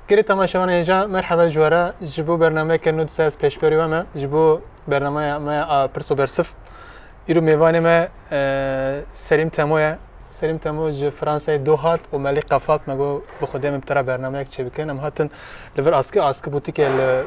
Giri temaşevan êja merheba ji were ji bo bernameyeke nû dise ez pêşberî we me ji bo bernameya me a pirso bersif. Îro mêvanê me e, Selîm Temo ye. Selîm Temo ji Fransayê do hat û me lê qefat me got bi xwe dê em bi te re bernameyek çêbikin. Em hatin li vir askı askı bûtîkê li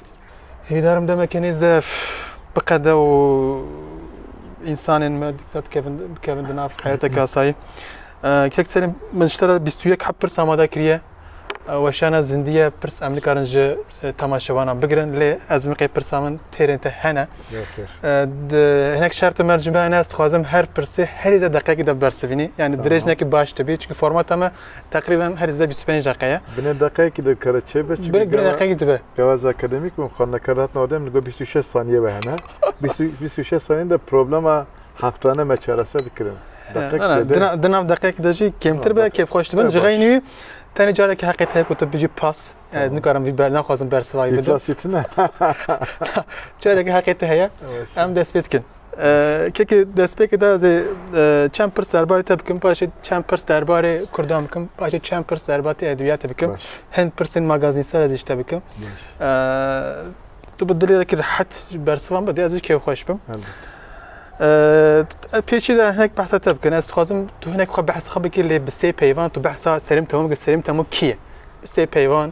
Hêdarim demeke nêz de biqede û însanên me dîktat dikevin dikevin di nav heyeteke asayî. Kek serê min ji te re bîst û yek heb pirs amade kiriye. Weşana zindiye pirs em nikarin ji temaşevanan bigirin lê ez miqê pirsa min têrên te hene. Di hinek şertê me cimbe hene ez dixwazim her pirsê herî de deqeyekî de bersivînî. Yani dirêj nekî baş dibî çünkü formata me teqrîben herî zêde bîst û pênc deqeye. Binê deqeyekî de kare çêbe. Binê deqeyekî dibe. Kevaz akademik bûn, xwendekar dihat nava dem li gor bîst û şeş saniye ve hene. Bîst û şeş saniye de problema heftane me çareser dikirin. Di nav deqek de jî kêmtir be kêfxweş dibin ji xeynî wî tenê carekî heqê te ku tu bijî pas ez nikarim vî ber naxwazim bersivayî bidim. Carekî heqê te heye em dest pê dikin. Kekê destpêkê de ez ê çend pirs derbarê te bikim, paşê çend pirs derbarê Kurdan bikim, paşê çend pirs derbatê edebiyatê bikim. Baş. Hin pirsên magazînsel ez işte bikim. Baş. Tu bi dilê ki rehet ji bersivan bidê, ez kê xweş bim. Pêçî de hinek behsa te bikin. Ez dixwazim tu hinek xwe behs xwe bikî lê bi sê peyvan tu behsa Selim Temû bikî. Selim Temû kî ye? Bi sê peyvan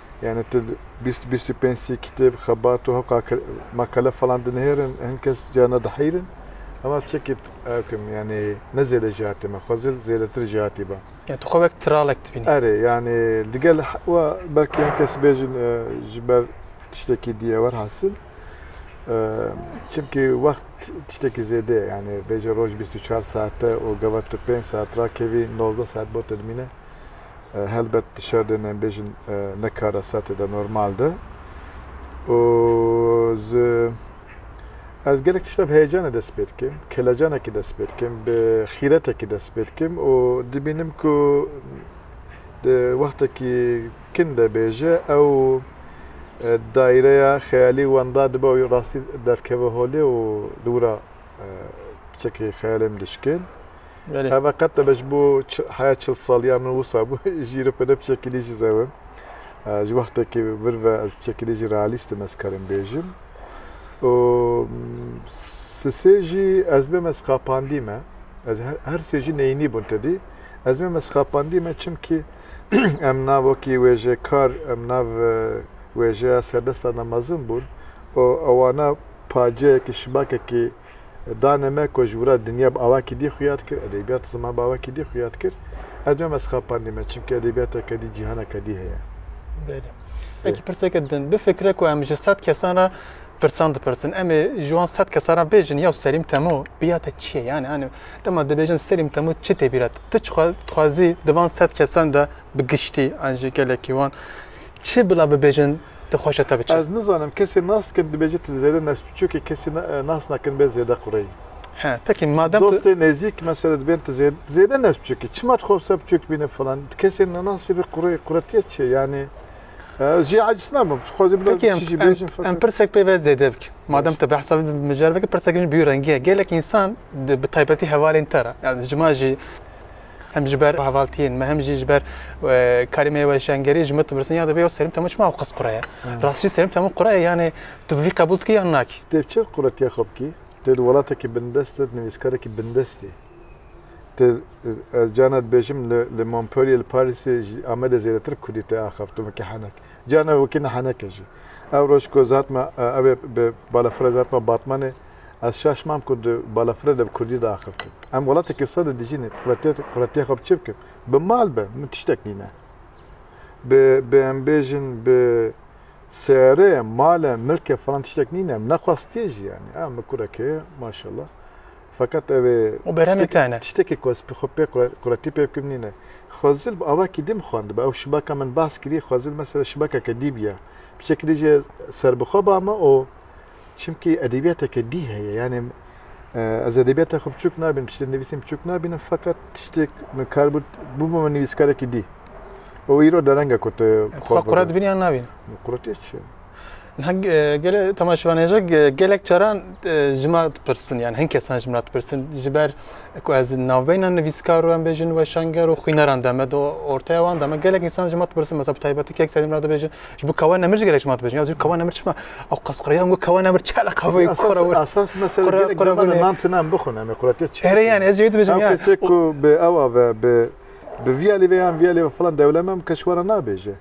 Yani tu bîst bîst û pênc sî kitêb, xebat û hoka makale falan dinihêrin, hin kes ca nediheyrin. Hema çekê ekim yani ne zêde jî hatê me, xwezê zêdetir jî hatî ba. Yani tu xwe wek tiralek dibînî. Erê yani digel wa belkî hin kes bêjin e, ji ber tiştekî dî ewer hasil. E, çimkî wext tiştekî zêde ye. Yani bêje roj bîst û çar saet e û gava tu pênc saet rakevî, nozdeh saet bo te dimîne. Helbet di şerdên em bêjin ne karesatê de normal de û ji ez gelek tişta bi heyecanê dest pê dikim, kelecanekî dest pê dikim, bi xîretekî dest pê dikim û dibînim ku di wextekî kin de bêje ew daîreya xeyalî wenda dibe û rastî derkeve holê û li wir a çekê xeyalê min dişkên. Belê. Heve qet nebe ji bo heya çil saliya min wisa bû jî re pêne piçekîlî jî zewim. Ji wextekî vir ve ez piçekîlî jî realîst im ez karim bêjim. û sisê jî ez bê me sixapandî me. Ez her sê jî neyînî bûn tedî. Ez bê me sixapandî me çimkî em nav wekî wêjekar em nav e, wêjeya serdestan de mezin bûn û ewana paceyekî şibakekî Danê me ku ji wira dinya bi awakî dî xuya dikir, edebiyat ziman bi awakî dî xuya dikir. Ez nayêm ez xapandî me çimkî edebiyateke dî, cîhaneke dî heye. Belê. Vekî pirseke din. Bifikre ku em ji sed kesan re pirsan dipirsin. Em ê ji wan sed kesan re bêjin yaw Selîm Temo bîya te çi ye? Yanî hanî dema dibêjin Selîm Temo çi tê bîra te? Tu dixwazî di van sed kesan de bi giştî an ji gelekî wan çi bila bibêjin? tu xweş e te biçe. Ez nizanim kesê nas dikin dibêje tu zêde nes tu çokê kesê nas nakin bê zêde qureyî. He peki madem tu Dostê nêzîk mesela dibên tu zêde tu zêde nes tu çokî çima tu xwe wisa bi çok bîne filan tu kesê nas bê qureyî quretiya çi ye yanî ez jî aciz nabim tu xwezî bila Peki çi jî em, bêjin em, em feqet pirsek pê ve zêde bikin. Madem te behsa mijar veke pirsek jî bîyo rengî ye. Gelek însan di- bi taybetî hevalên te re. Yani cima jî Hem ji ber hevaltiyên me hem jî ji ber karê me yê weşangerî ji min dipirsin ya divê ew serîm te min çima ew qis qura ye? Rastî jî serîm te min qura ye yanê tu bi vî qebûl dikî yan nakî? Tu dê çi quretiya xwe bikî? Tu di welatekî bindest de nivîskarekî bindest î. Tu ez carna dibêjim li Montpellier, li Parîsê, ji Amedê zêdetir kurdî te axaft û wekî henek. Carna wekî ne henek e jî. Ew roj ku ez hatime ew ê bi balafirê ez hatime Batmanê Ez şaş mam ku di balafirê de bi kurdî diaxivtim. Em welatekî wisa de dijîn ê. Quretiya xwe bi çi bikim? Bi mal be, min tiştek nîne. Bi, bi em bêjin bi seyareyê, male, milke filan tiştek nîne. Em nexwastiye jî yanî. A min kurek heye, maşallah. Feqet ev ê Û berhemên te ne. tiştekî ku ez xwe pê quretî pê bikim nîne. Xwezil bi avakî din xwendibe. Ew şibaka min behs kirî, xwezil mesela şibakeke dî bîya. Bi şekilî jî ez serbixwe bame û. Çimkî edebiyateke dî heye yanê ez edebiyata xwe biçûk nabînim, tiştên nivîsîn biçûk nabînim feqet tiştêk min kar bû bûbû min nivîskarekî dî. Ew îro derenge ku tu xwe qure dibînî yan nabînî? Quretî çi? Niha gele temaşevanên re gelek caran ji me dipirsin yan hin kesan ji min dipirsin ji ber ku ez navbeyna nivîskaro em bêjin weşanger û xwîneran de me de ortaya wan de me gelek însan ji me dipirsin mesela bi taybetî kek serî min re dibêjin Ji bo kawa nemir ji gelek ji mat bejin. Ya dû kawa nemir çima? Ew qasqiraya û kawa nemir çi eleqa vê kora wê. Esas mesela gelek gelek de nan tinan bixwin em quratiya çi. Erê yani ez jêwit bejim ya. Kesê ku bi ewa ve bi bi viya lê vê yan viya lê vê filan dewlem em keş wara nabêje.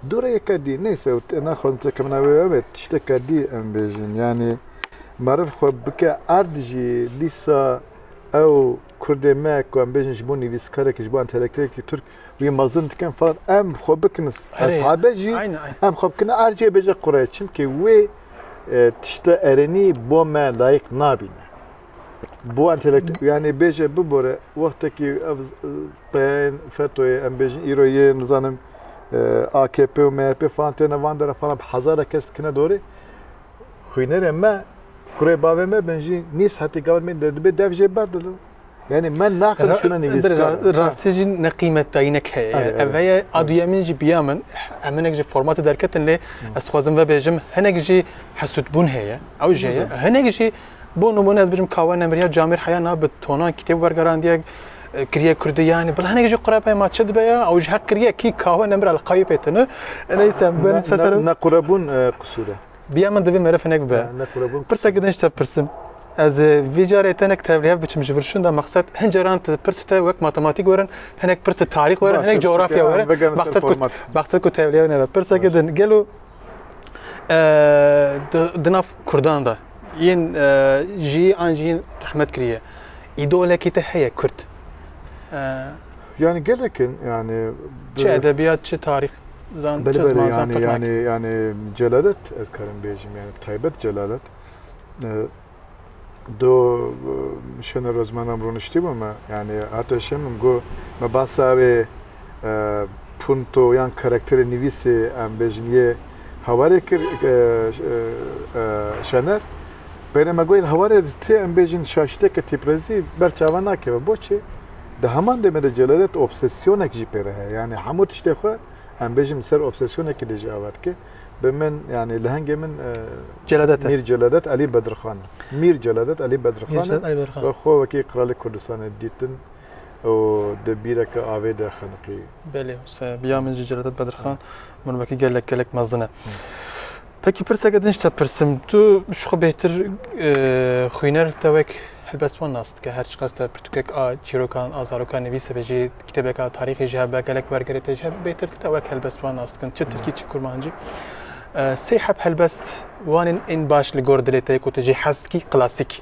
Dû re yeke dî neyse û te naxwazim tu kemina wê wê wê tişteke dî em bêjin. Yanî meriv xwe bike erd jî dîsa ew Kurdê me ku em bêjin ji bo nivîskarekî, ji bo entelektûelekî Tirk wî mezin dikin filan em xwe bikin hesabê jî em xwe bikin ercê bêje qurê çimkî wê tişta erênî bo me layîq nabîne. Bo entelektû yanî bêje bibore wextekî ev peyên FETÖ'yê em bêjin îro yê nizanim AKP û MHP filan têne van dere filan bi hezare kes dikine dorê. xwînerê me kurê bavê me bin jî nîv saetê gavên me de dibê dev jê ber dilo. Yani me naqil şuna nivîskar. Rastî jî ne qîmet dayînek heye. Yani ev heye a duyemîn jî biya min em hinek ji formatê derketin lê ez dixwazim vebêjim hinek jî hesûdbûn heye ew jê ye hinek jî Bo nimûne ez bijim Kawe Nemiriya Camîr Heya na bi tonan kitêb wergerandiyek kiriye Kurdî yanî bila hinek jî qurepey ma çi dibe ya ew ji heq kiriye kî Kawe Nemira li Kayû pê tune neyse bin sesero Nequrebûn qisûr e. Biya min divê meriv hinek be. Pirsek gidin ji te pirsim. Ez vê carê tenek tevlihev biçim ji vir şunda mexset hin caran tu pirs te wek matematîk werin hinek pirs tu tarîx werin hinek coğrafya werin mexset ku mexset ku tevlihev nebe. Pirsek gidin gelo di nav Kurdan de yên jî an jî yên rehmet kiriye. Îdolekî te heye Kurd. Yani gelekin yani çi edebiyat çi tarih zan çi zman zan yani yani yani celalet ez karim bejim yani taybet celalet do şena rozmanam runişti bama yani hatta şemim go me basave punto yan karakterê nivîsê em bêjin yê hawarê kir Şener. Peyre me gotin hawarê di tê em bêjin şaşîteke têpirezî ber çavan nakeve. Boçi? Di heman demê de celeret obsesyonek jî peyre heye. Yanî hemû tiştê xwe em bêjin bi ser obsesyonekî de jî ava dike. Bi min yanî lehengê min Celadet e. Mîr Celadet Elî Bedirxan e. Mîr Celadet Elî Bedirxan e. Mîr Celadet Elî Bedirxan. Xwe wekî Kralê Kurdistanê dîtin. û di bîreke avê de xeniqî. Belê wisa ye. Ya min jî Celadet Bedirxan min wekî gelek gelek mezin e. Pekî pirseke din ji te pirsim. Tu ji xwe bêhtir xwîner li te wek helbest wan nas dike. Her çiqas te pirtûkek a çîrokan a zarokan nivîsibe jî, kitêbeka tarîxê jî hebe, gelek wergerê te jî hebe, bêhtir li te wek helbest wan nas dikin. Çi tirkî çi kurmancî. Sey heb helbest wan ên ên baş li gor dilê te ye ku tu jê hez dikî, klasîk.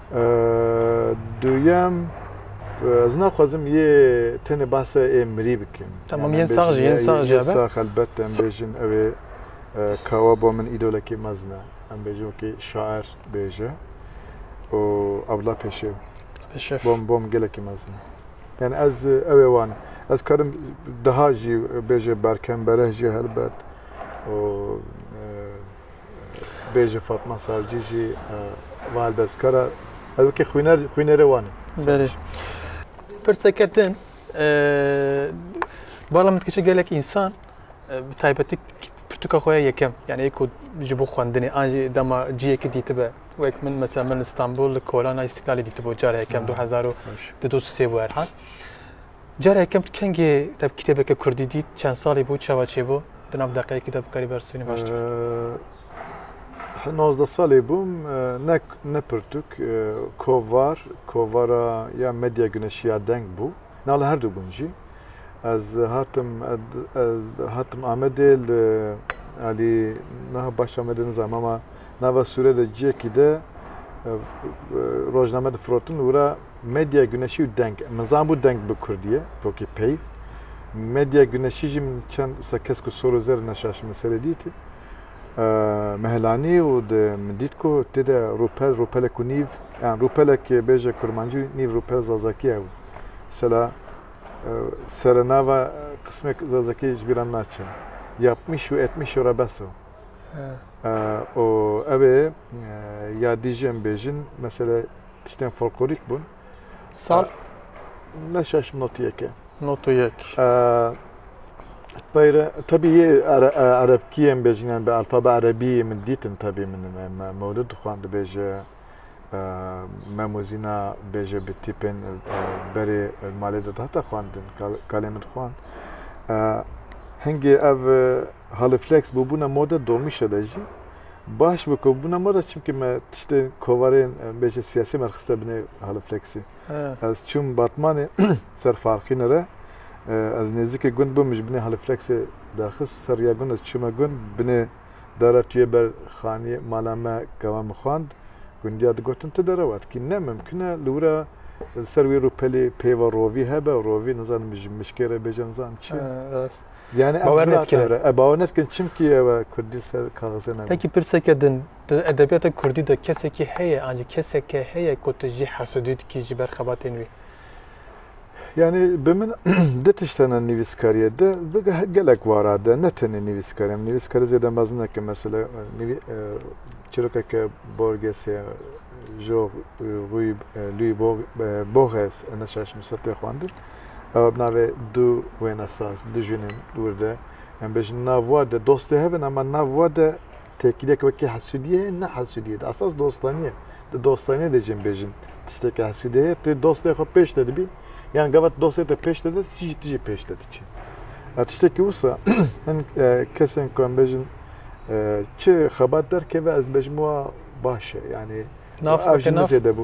Duyem ez naxwazim yê tenê bahsa ê mirî bikim. Tamam yên sax jî yên sax jî be. Sax elbet em bêjin ew ê kawa bo min îdolekî mezin e. Em bêjin wekî şair bêje û Abdullah Pêşew. Pêşev. Bom bom gelekî mezin e. Yani ez ew ê wan ez karim daha jî bêje berkem bereh jî helbet û bêje Fatma Sarcî jî va helbestkar e. Ez wekî xwîner xwînerê wan im. Berê. Pirseke din bala min dikişe gelek însan bi taybetî pirtûka xwe ya yekem yani ê ku ji bo xwendinê an jî dema ciyekî dîtibe wek min mesela min li Stenbol li Kolana Îstîklalê dîtibo cara yekem 2002-2003 bû her hal. Cara yekem tu kengê te bi kitêbeke kurdî dît, çend salî bû, çawa çêbû? Di nav deqeyekî de bikarî bersivînî baştir. Nozdeh salê bûm, ne ne pirtûk, kovar, kovara ya Medya Guneşî ya Deng bû. Na li herdu gund jî. Ez hatim hatim Amedê li alî niha baş Amedê nizanim ama nava sûre de ciyekî de rojname difirotin û wira Medya Güneşî û Deng. Min zanbû Deng bi Kurdî ye, tokî peyv. Medya Güneşî jî min çend wisa kesk û sor û zer neşaş min serê dîtî. Mehelanî û di min dît ku tê de rûpel, rûpelek û nîv, yan rûpelek bêje kurmancî û nîv rûpel zazakî hebû. Mesela serenava qismek zazakî ji bîr re naçe. Yapmîş û etmîş ora bes o. Û ev ê ya dî jî em bêjin, mesela Tiştên folklorîk bûn. Sal? Ne şeş not yeke. Not yek. Peyre, tabii yê erebkiyê em bêjin yani bi alfabe erebiyê min dîtin tabii min mewlid dixwan dibêje memuzîna bêje bi tîpên berê malê de dihata xwandin kalê min dixwan. Hingê ev haliflex bûbûna moda domîşe de jî Baş bi ku bûna me re çimkî me tiştê kovarên bêje siyasî me rixiste binê halifleksî. Ez çûm Batmanê ser Farqîne re. Ez nêzîkê gund bûm min ji binê halifleksê derxist ser rêya gund ez çûme gund binê dara tûyê ber xaniyê mala me kewa min xwand gundiya digotin tu dere wat kî ne mimkin e li wira li ser wî rûpelê pêva rovî hebe rovî nizanim ji mişkê re bêje nizanim çi. Yani bawer nedikire. E bawer nedikin çimkî ew e Kurdî li ser kaxizê nebû. Peki pirseke din di edebiyata Kurdî de kesekî heye ancî keseke heye ku tu jî hesedû dikî ji ber xebatên wî? Yani bi min di tiştena nivîskariyê de bi gelek wara de ne tenê nivîskariyê em nivîskari zêde mezin neke mesela nivî çirokeke borgesê jog rûyî lûyî bog boges neşaş misatê xwendin Ewa bi navê Du Wênesaz, Du Jinên Dûr de. Em bêjin nav wa de dostê hev in ama nav wa de têkiliyek wekî hesûdiyê heye ne hesûdiyê di esas dostanî ye. Di dostanîyê de jî em bêjin tişteke hesûdê heye tu dostê xwe pêş de dibî yan gava tu dostê te pêş de de tu jî tu jî pêş de diçî. Ya tiştekî wisa hin kesên ku em bêjin çi xebat derkeve ez dibêjim wa baş e yanî Nav ev xwe jî ke min nav. zêde bû.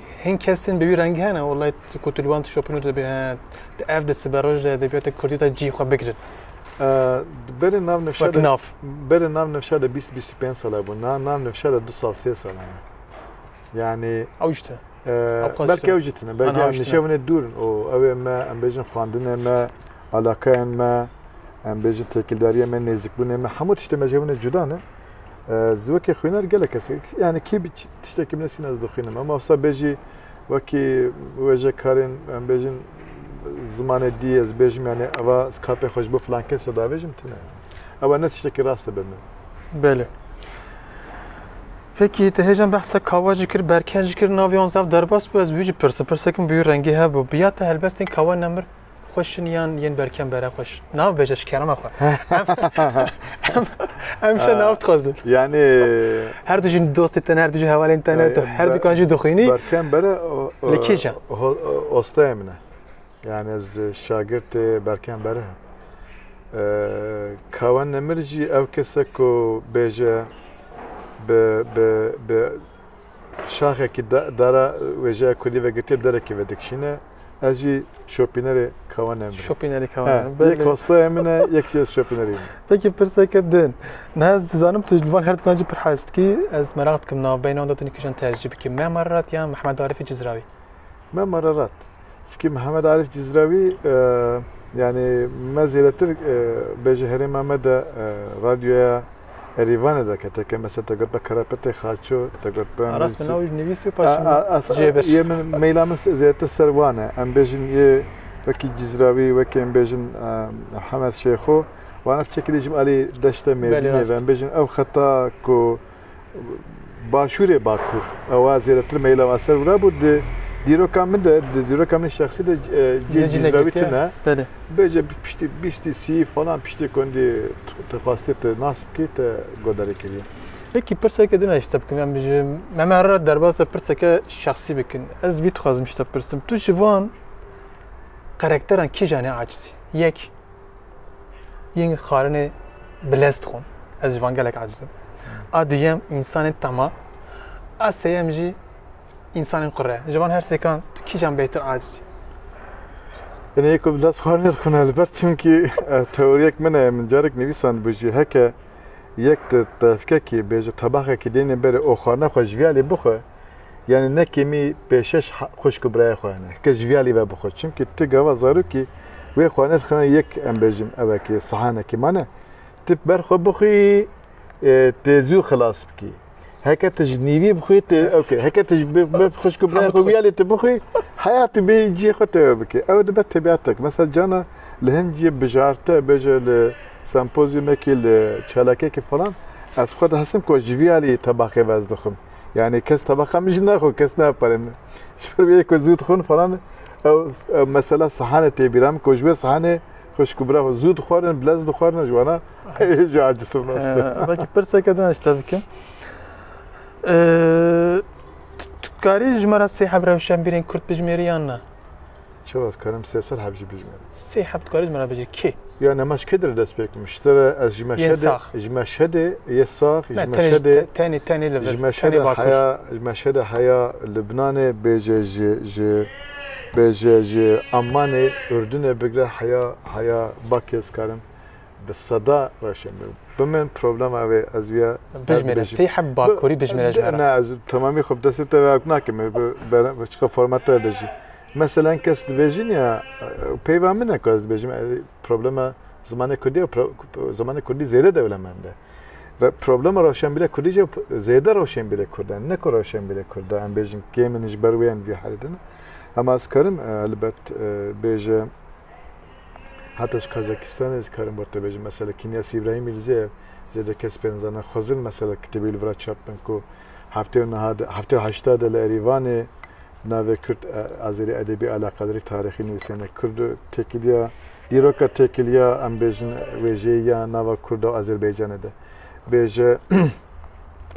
Hin kes tên bi wî rengî hene û lê ku tu li wan tişopin û tu dibî he tu ev di sibe roj de edebiyata kurdî de cî xwe bigirin. Di berê nav nifşa de berê nav nifşa de bîst bîst û pênc sal hebûn. Na nav nifşa de du sal sê sal hene. Yani ew jî tune. Belkî ew jî tune. Belkî ew nişe winê dûr in û ew ê me em bêjin xwendinê me, alakayên me, em bêjin têkildariyê me, nêzîkbûnê me hemû tiştê me ji hev winê cuda ne. Ez wekî xwînar gelek kesek yani kî Tiştekî min nesîn ez dixwînim. Em asa bêjî wekî wêjekarên em bêjin zimanê dî ez bêjim yanî eva skapê xwe ji bo filan kese davêjim tune. Ewa ne tiştekî rast e be min. Belê. Peki te hêjan behsa kawa jî kir, berken jî kir, navê wan zaf derbas bû, ez wî jî pirsim, pirsekim bi wî rengî hebû. Biya te helbestên kawa nemir? xweş in yan yên berkem bere xweş? Nav bêje ji kerema xwe. Em şe nav dixwazin. Yani her du jî dostê te ne, her du jî hevalên te ne, tu her dukan jî dixwînî. Berkem bere Li kêje? Ostayê min e. Yani ez şagirtê Berkem bere him. Kawen Nemir jî ew kese ku bêje bi bi bi şaxekî dara wêjeya kulî vegirtiye derekê vedikişîne. Ez jî şopînerê kawenê min. Şopînerê kawenê min. Belê. Yek hostaya min e, yek jî ez şopînerê min. Peki pirseke din. Niha ez dizanim tu li van her dikanan jî pir hez dikî. Ez meraq dikim navbeynan de tu nîkijan tercîh bikî Mem Ararat yan Mehmed Arîfî Cizrawî? Mem Ararat. Çikî Mehmed Arîf Cizrawî yanî me zêdetir bêje herêma me de radyoya Erîvanê de ke teke mesela te got be Karapetê Xaço te got be Aras min navî nivîsî paş cihê beş. Yê min meyla min zêdetir ser wan e. Em bêjin yê wekî Cîzrawî wekî em bêjin Hemed Şêxo wan ev çekî dê jî bi alî deşte mêrdînê ve. Em bêjin ew xeta ku Başûrê Bakur. Ewa zêdetir meyla ma ser wira bû di dîroka min de, di dîroka min şexsî de cê cîzra wî tune. Bêje piştî bîstî sî falan piştî ku hindî te xwestiye te nas bikî te guhdarî kiriye. Wekî pirseke din ji te bikim em ji me me re derbas de pirseke şexsî bikin. Ez vî dixwazim ji te bipirsim. Tu ji van karakteran kîjan e acizî? Yek. yên xarinê bilez dixwin. Ez ji van gelek aciz im. A duyem însanên tema, a seyem jî însanên qure. Ji van her sêkan tu kîjan bêhtir aciz î? Yine yek bir ders xarine dixwin elbet çünkü e, teoriyek min e, min carek nivîsand bû jî heke yek di tevkekî bêje tebaxekî deynê berê û xarina xwe ji viyalê bixwe, Yanî ne kêmî pêşeş xwişk û birayê xwe hene, heke ji viya lî ve bixwe. Çimkî ti gava zarokî wê xwe nirxine yek em bêjim ew e ki sihanekî ma ne. Ti ber xwe bixwî tê zû xilas bikî. Heke ti ji nîvî bixwî ti ew kê. Heke ti ji xwişk û birayê xwe viya lê ti bixwî heyatî bê cihê xwe tê ew bikî. Ew dibe tebiatek. Mesela cana li hin cihê bijarte bêje li sempozyumekî li çalakiyekî falan ez xwe dihesibim ku ji viya lî tebaqê ve ez dixwim. Yani kes tabaka min jî naxwe kes napere min. Ji ber wê ku zû dixwin falan ew mesela sehane tê bîra min ku ji wê sehanê xwişk û bira xwe zû dixwarin bilez dixwarin ji wana ji acisim nas. Belkî pirseke din ji te bikim. Tu karî ji me re sê hevrewşenbîrên kurd bijimêrî yan na? Çawa dikarim sê sal heb jî bijimim? Sê heb dikarî min re bijî kê? Ya nema ji kê dire dest pê bikim? Ji te re ez ji Meşhedê ji Meşhedê yê sax ji Meşhedê tenê tenê li vir ji Meşhedê heya ji Meşhedê heya Libnanê bêje ji ji bêje ji Emanê Urdunê bigre heya heya bakê ez karim bi seda reşê min bi min problema wê ez wiya bijmêre sê heb bakurî bijmêre ji ne ez temamî xwe bi destê te ve nakim bi çiqa format te bêjî mesela kes dibêjî niya peyva min e ku ez dibêjim problema zimanê kurdî zimanê kurdî zêde dewlemend e ve problema rewşenbîrê kurdî jî zêde rewşenbîrê kurd e ne ku rewşenbîrê kurd e em bêjin kê min ji ber wê em vî herî din hema ez karim elbet bêje Heta ez Kazakistanê dikarim bo te bêjim mesela Kinyas Îbrahîmî li Zêr zêde kes pê nizana xwezin mesela kitêbê li vir a çap bin ku heftê û niha de heftê û heşta de li Erîvanê bi navê Kurd Azerî Edebî Alaqadarî Tarîxî nivîsêne Kurd û têkiliya dîroka têkiliya em bêjin wêjeyî ya nava Kurda û Azerbaycanê de bêje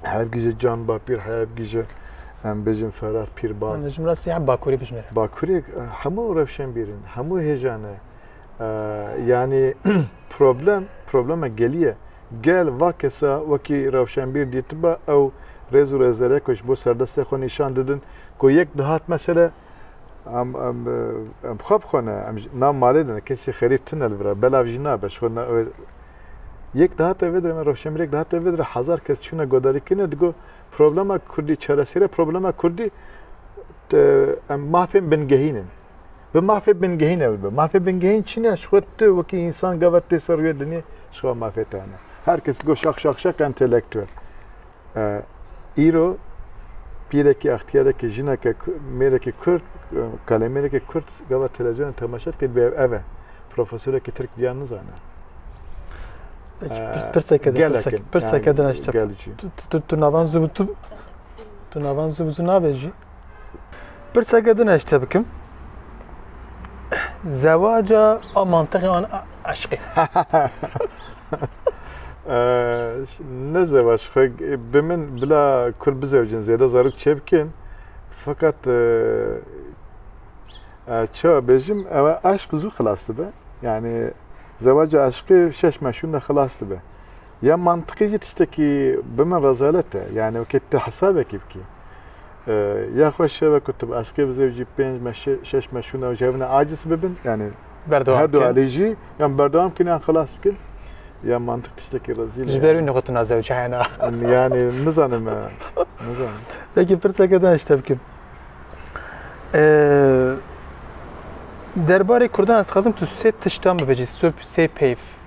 hevgîje can ba pîr hevgîje em bêjin ferah pîr ba. Ji min re sî bakurê bijmêre. Bakurê hemû rewşên bîrin, hemû hêjan e. Yani problem, problema geliye. Gel va kesa wekî rewşenbîr dîtiba ew rêz û rêzerek ji bo serdestê xwe nîşan didin ku yek dihat mesele Em em em xwe bixwene em na malê ne kesî xerîb tune li vira belav jî nabe ji xwe yek dihate vê dire me rewşenbîr yek dihate vê dire hezar kes çûne godarîkirine digo problema kurdî çaresêre problema kurdî em mafên bingehînin bi mafê bingehîn ew bi mafê bingehîn çîne ji xwe tu wekî însan gava tê ser rûyê dinyê ji xwe mafê te hene her kes go şax şax şax entelektûel îro pîrekî axtiyareke jineke mêrekî kurd kalemêrekî kurd gava televizyona temaşe dike dibê ev e profesorekî tirk biya nizane pirseke pirseke dinaşte tu navan zû tu navan zû zû nabêjî Pirseke din ez te bikim. Zewaca a mantıqê an eşqê. ne zevac xwe bi min bila kur bizewcin zêde zarok çêbikin. Fakat ça bêjim ew eşq zû xilas dibe. Yani zevaca eşqê şeş meşûn de xilas dibe. Ya mantiqî jî tiştekî bi min rezalet e. Yanî wekî tu hesabekî bikî. Ya xwe şeve ku tu bi eşqê bi zewcî pênc me şeş me şûna û ji hev ne aciz bibin yanî her du alî jî yan berdewam bikin yan xilas bikin. Ya mantiq tiştekî rezîl e. Ji ber wî nixutina zewca hena. Yanî nizanim e. Nizanim. Peki pirseke din hişte bikim. Derbarê Kurdan ez dixwazim tu sê tiştan bibêjî, sê peyv.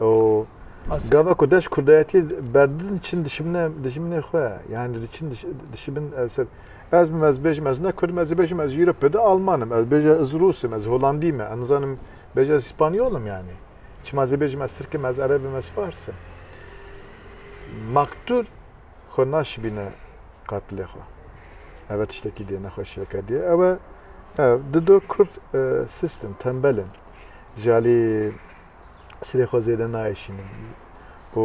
û gava ku deş kurdayetiyê berdidin çin dişimine dijimine xwe yani çin dişimin ev ser ez min ez bêjim ez ne kurdim ez bêjim ez jîro pede almanim ez bêje ez rusim ez holandî me em zanim bêje ez spanyolim yani çima ez bêjim ez tirkim ez erebim ez farsim maktul xwe naşibîne qatilê xwe ev tiştekî dê nexweşiyeke dê ew e dido kurd e, sistem tembelin ji alî sirê xwe zêde naêşînin û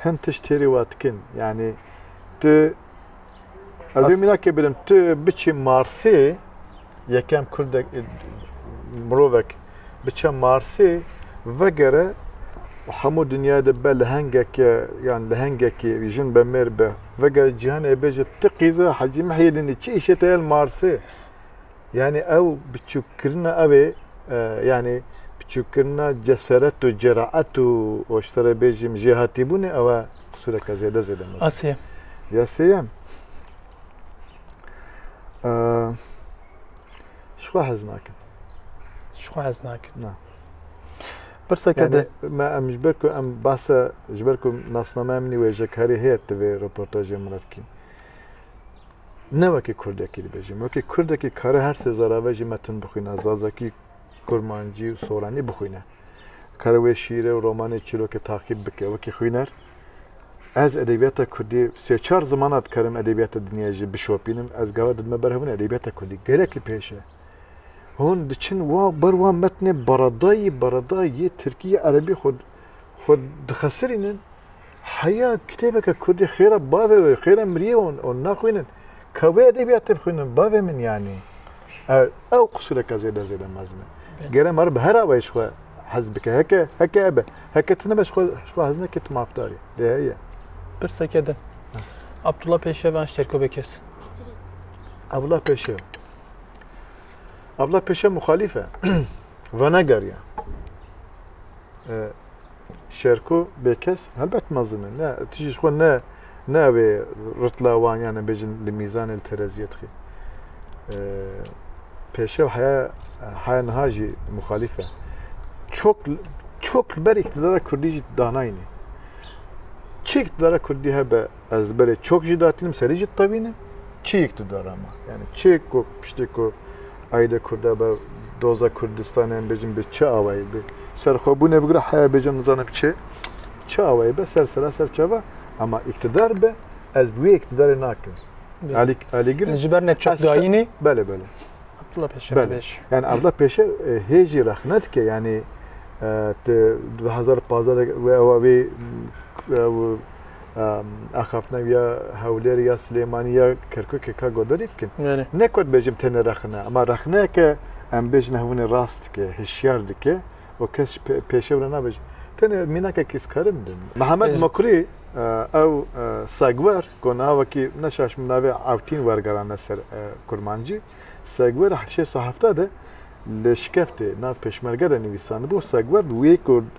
hin tişt têrê we dikin. Yanî tu ez vê mînakê bidim tu biçî Marsê yekem kurdek mirovek biçe Marsê vegere û hemû dinyayê de be lehengeke yan lehengekê jin be mêr be vegere cîhanê bêje ti qîze hecî mihêdinî çi îşê te ye li Marsê? Yanî ew biçûkkirina ew ê yanî biçûkkirina cesaret û ceraet û ji te re bêjim jêhatîbûnê ew e qisûreke zêde zêde mezin. A sêyem. Ya sêyem. Ji xwe hez nakin. Ji xwe hez nakin. Na. Pirseke de me em ji ber ku em basa ji ber ku nasnameya min wêjek herê heye divê röportajê min re bikîm. ne wekî kurdekî dibêjim. Wekî kurdekî kare her sê zarave jî metin bixwîne, zazakî, kurmancî û soranî bixwîne. Kare wê şîîrê û romanê çîrokê taqîb bike. Wekî xwîner ez edebiyata kurdî sê çar zimana dikarim edebiyata dinya jî bişopînim. Ez gava didime ber hûn edebiyata kurdî gelek li pêş e. Hûn diçin wa ber wa metnê baradayî baradayî tirkî erebî xwe xwe dixesirînin. Heya kitêbeke kurdî xêra bavê wê, xêra miriyê wê û naxwînin. Ka wê edebiyat tê bixwînin bavê min yanî. Ew ew qisûreke zêde zêde mezin e. Gere ma re bi her awayê ji xwe hez bike. Heke heke ebe. Heke tu nebe ji xwe ji xwe hez neke tu mafdarî. Dê heye. Pirseke din. Abdullah Pêşev an ji Terkobê kes? Abdullah Pêşev. Abdullah Pêşev muxalîf e. Venegeriya. Şerko bêkes helbet mezin e. Ne tu jî ji xwe ne ne ew ê ritla wan yan em bêjin li mîzanê li tereziyê dixî. Pêşev heya heya niha jî muxalîf e. Çok çok li ber îktidara Kurdî jî danayînê. Çi îktidara Kurdî hebe ez li berê çok jî datînim serî jî tevînim. Çi îktidara me? Yani çi ku piştê ku aîle Kurda be, doza Kurdistanê em bêjin bi çi awayî bi serxwebûnê bigre heya bêjin nizanim çi çi awayî be ser sera ser çava ema îktidar be ez bi wê îktidarê nakim. Alî alî girin. Ji ber ne çap dayînê. Belê belê. Abdullah Peşer. Belê. Yani Abdullah Peşer e, hêjî rexne dike yani e, tu 2015 ve ewa vê e, axaftina ya Hewlêrê ya Silêmanî ya Kerkûkê ka godarî bikin. Ne ku dibêjim tenê rexne ama rexneyeke em bêjin hevûnê rast dike, hişyar dike û kes ji pêşê wina nabêje. Tenê mînakekî ez karim bin. Mihemed Mokrî ew Segwer ku navekî ne şaş min navê Ewtîn wergerandine ser kurmancî. Segwer li heft sed û heft de li Şikeftê nav pêşmerge de nivîsandibû. Segwer wê ku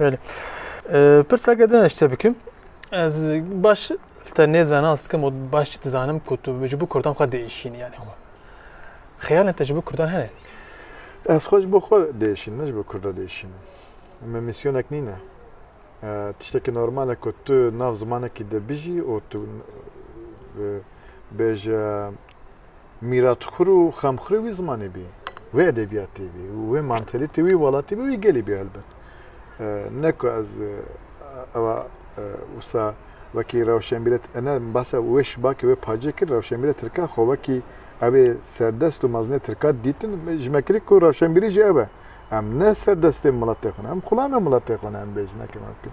Belê. Pirseke din eşte bikim. Ez baş te nêzana sikim û baş jî dizanim ku tu ji bo Kurdan xwe diêşînî yanî xwe. Xeyalên te ji bo Kurdan hene? Ez xwe ji bo xwe diêşînim, ne ji bo Kurdan diêşînim. Me mîsyonek nîne. Tiştekî normal e ku tu nav zimanekî de bijî û tu bêje mîratxwir û xemxwirê wî zimanê bî, wê edebiyatê bî û wê mantelîtê wî welatê bî û wî gelê bî helbet. Ne ku ez ewa wisa wekî rewşenbîre ne basa wê şibakê wê pacê kir rewşenbîre tirka xwe wekî evê serdest û mezinê tirka dîtin ji me kirî ku rewşenbîrî jî ew e. Em ne serdestê miletê xwe ne, em xulamê miletê xwe ne em bêj nekin ew kin.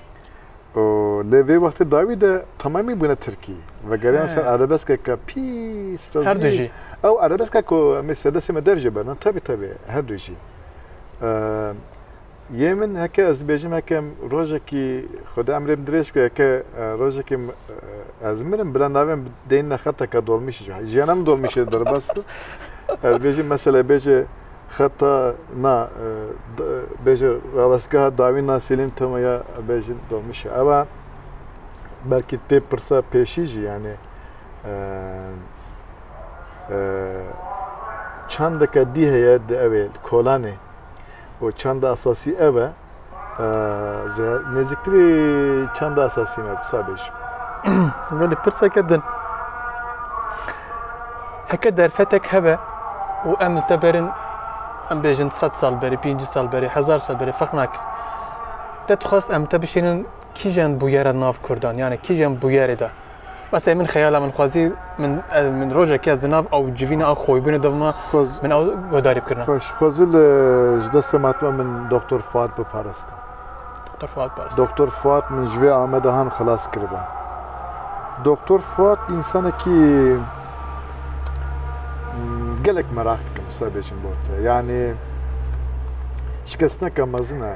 û lê vê wextê dawî de temamî bûne tirkî. Vegeriyan ser erebeskeke pîs rezîl. Her du jî. Ew erebeska ku em ê serdestê me dev jê berin, tevî tevî her du jî. Yê min heke ez dibêjim heke rojekî xweda emrê min dirêj ku heke rojekî ez mirim bila navê min deyne xeteke dolmîşê. Jiyana min dolmîşê derbas bû. Ez bêjim meselebêje xeta na bêje rawestgeha dawî na Sêlîm Temo ya bêjin domişe. Eva belkî tê pirsa pêşî jî yanê çandeke dî heye di evê kolanê û çanda esasî ev e. Nêzîktirî çanda esasî me bi sabê jî. Gelê pirseke din. Heke derfetek hebe û em li te berin em bêjin sed sal berê, pêncî sal berê, hezar sal berê ferq nake. Te dixwest em te bişênin kîjan bûyera nav Kurdan, yani kîjan bûyerê de. Bes ê min xeyala min xwezî min min rojekê ez di nav ew civîna ew xoybûnê de bima Xwez, min ew guhdarî bikirina. xweş, xwezî li ji destê matime min Doktor Fuat biparastin. Doktor Fuat Paris. Doktor Fuat min ji vê ame de han xilas kiribe. Doktor Fuat însanekî mm, gelek merak dikim sibê bêjim bo te. Yanî şikestineke mezin e.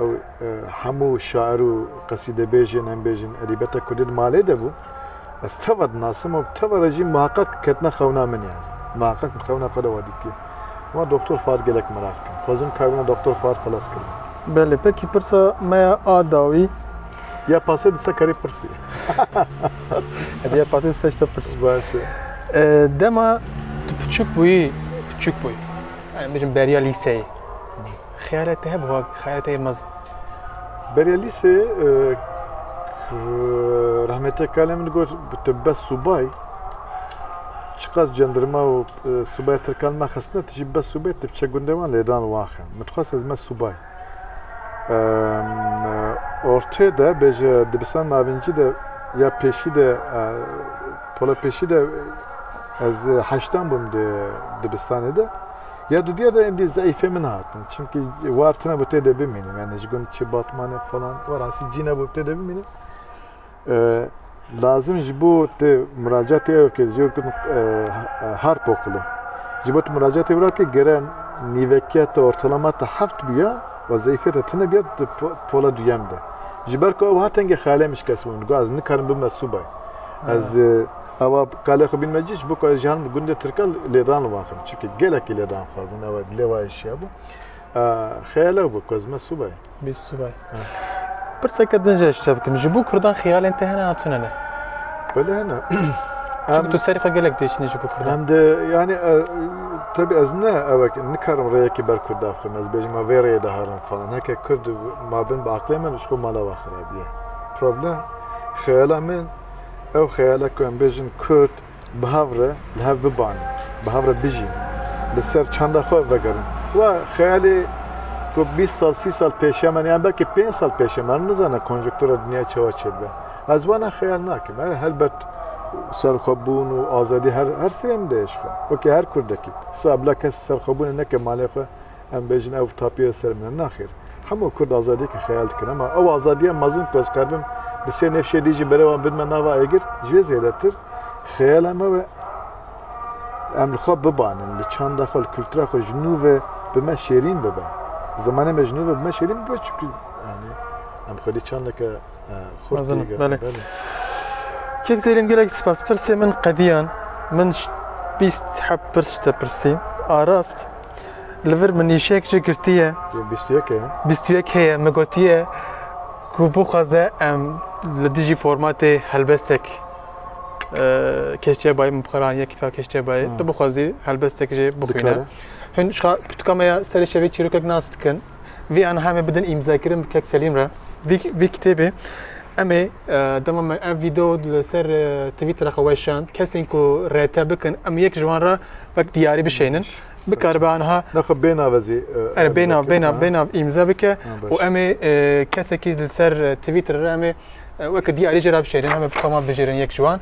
Ew hemû şair û qesîdebêjên em bêjin edîbeta kurdî di malê de bû. Ez teva dinasim û teva re jî miheqeq ketine xewna min yani. Miheqeq min xewna xwe de wa dîtiye. Ma Doktor Fuad gelek merak dikim. Xwezim karibûna Doktor Fuad xilas kiribû. Belê, pekî pirsa me ya a dawî. Ya pasê di se karî pirsî. Hadi ya pasê di se şta pirs. Baş e. Dema tu piçûk bûyî, piçûk bûyî. Em bêjin beriya lîseyê. Xeyalê te hebû hak, xeyalê te yê mezin. Berê lîsê rahmetê kalê min got bi te bes subay çiqas cendirma û subaya tirkan me xistine tu jî bes subay tu biçe gundê wan lêdan waxe min dixwest ez me subay ortê de bêje dibistan navincî de ya pêşî de pola pêşî de ez heştan bûm di dibistanê de Ya di diya de endî zeîfê min hatin. Çimkî war tune bi tê de bimînim. Yani ji gund çi batmane falan war asî cî nebû bi tê de bimînim. Lazim ji bo te muracatê ew ke ji kin harp okulu. Ji bo te muracatê wira ke gere nîvekiya te ortalama te heft bûya û zeîfê te tune bûya di pola duyem de. Ji ber ku ew hatenge xeyalê min şikest bûn. Got ez nikarim bime subay. Ez Ewa kalê xwe bîn me cî ji bo ku ez ji herin bi gundê Tirkel lêdan li wan xivim. Çimkî gelekî lêdan xwe bûn. Ewa dilê wa êşiya bû. Xeyalew bû ku ez me subay. Bîst subay. Pirseke din jî ez ji te bikim. Ji bo Kurdan xeyalên te hene an tune ne? Belê hene. Çimkî tu serî xwe gelek diêşînî ji bo Kurdan. Em de yanî tebî ez ne ewek nikarim rêyekî ber Kurd daxim. Ez bêjim ma vê rêyê de herin falan. Heke Kurd ma bin bi aqilê min ji xwe mala wan xirabî ye. Problem xeyala min Ew xeyala ku em bêjin Kurd bi hev re li hev bibanin, bi hev re bijîn, li ser çanda xwe vegerin. Wa xeyalê ku bîst sal, sî sal pêşiya me ne yan belkî pênc sal pêşiya me, em nizanin konjunktura dinyayê çawa çêdibe. Ez wana xeyal nakim. Her helbet serxwebûn û azadî her her sirê min de ye ji xwe. Wekî her Kurdekî. Wisa bila kes serxwebûnê neke malê xwe. Em bêjin ew tapî li ser min e. Naxêr. Hemû Kurd azadiyeke xeyal dikin. Ema ew azadiya mezin ku ez karibim bi sê nêfşê dî jî berê wan bidime nava êgir, ji wê zêdetir xeyala me we em li xwe bibanin, li çanda xwe, li kultura xwe ji nû ve bi me şêrîn bibe. Zimanê me ji nû ve bi me şêrîn bibe çimkî yanî em xwedî çandeke xurt tê gelê. Kêk Zêlîm gelek spas. Pirsê min qediyan. Min bîst heb pirs ji te pirsî. A rast? Li vir min nîşeyek jî girtiye. Yê bîst û yek heye. Bîst û yek heye. Me gotiye ku bixwaze em li dijî formatê helbestek keştîyebayê min bixweranî ya kîtva keştîyebayê. Tu bixwazî helbestek jê bixwîne. Hûn jixwe pirtûka me ya serê şevê çîrokek nas dikin. Vî an hemê bidin îmzakirin bi kek Selîm re. Vî vî kitêbê em ê dema me ev vîdeo li ser Twitter re xwe weşand, kesên ku rete bikin em yek ji wan re Wek diyarî bişênin. Bikaribe aniha Nexwe bêhna ve zî e, Ere bêna veke, bêna ha. bêna îmze bike Ha, baş. û em ê e, kesekî li ser e, Twitter re em ê e, weke diyarî jê re bişêrin em ê bi xema bijêrin yek ji wan.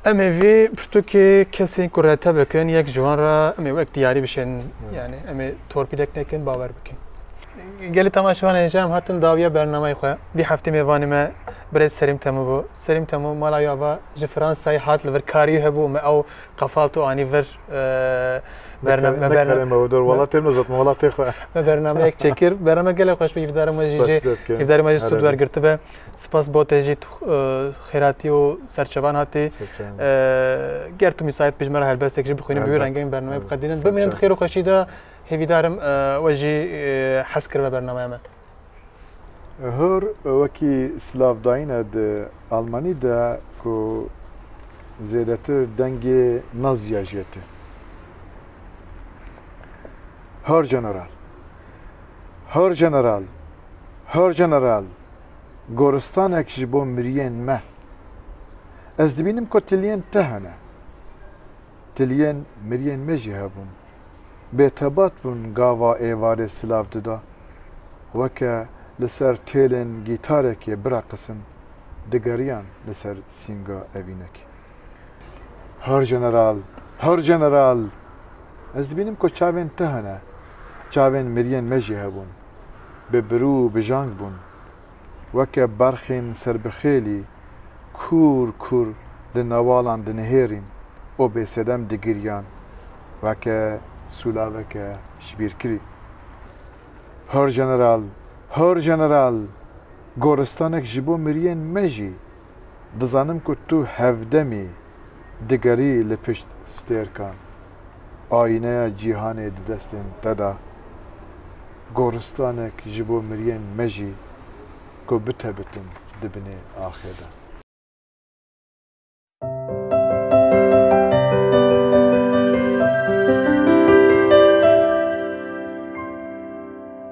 Em ê vê pirtûkê kesên ku rete bikin yek ji wan re em ê wek diyarî bişên yani em ê torpîlek nekin bawer bikin. Gelê temaşevan hêja em hatin dawiya bernameyê xwe. Vî heftê mêvanê me Birêz Serîm Temû bû. Serîm Temû mala wî ava ji Fransayê hat li vir karî hebû û me ew qefalt û anî vir me bernameyek çêkir. Bername gelek xweş bû hîvdarê me jî jê hîvdarê me jî sûd wergirtibe. Spas bo te jî. خێرatiy û serçevan hatê ger tu misayet bi ji me re helbestek jî bixwînin bi wî rengê min bernameyê biqedînin bimînin bi xêr û xweşî de hêvîdar im we jî hez kiribe bernameya me. Hor wekî silav dayîne di Almanî de ku zêdetir dengê Nazîya jê tê. Hor General! Hor General! Hor General! goristanek ji bo miriyên me. Ez dibînim ku tiliyên te hene. Tiliyên miriyên me jî hebûn. Bêtebat bûn gava êvarê silav dida. Weke li ser têlên gîtarekê bireqisin, digeriyan li ser sînga evînekê. Hör Jeneral! Hör Jeneral! Ez dibînim ku çavên te hene. Çavên miriyên me jî hebûn. bi birû û bijang bûn. Weke berxên serbixêlî kûr kûr di newalan dinihêrîn û bêsedem digiriyan weke sûlaveke jibîrkirî. Hör General! Hör General! Goristanek ji bo miriyên me jî! Dizanim ku tu hevdemî digerî li pişt stêrkan. Ayîneya cîhanê di destên te de. Goristanek ji bo miriyên me jî ku bitebitin di binê axê de.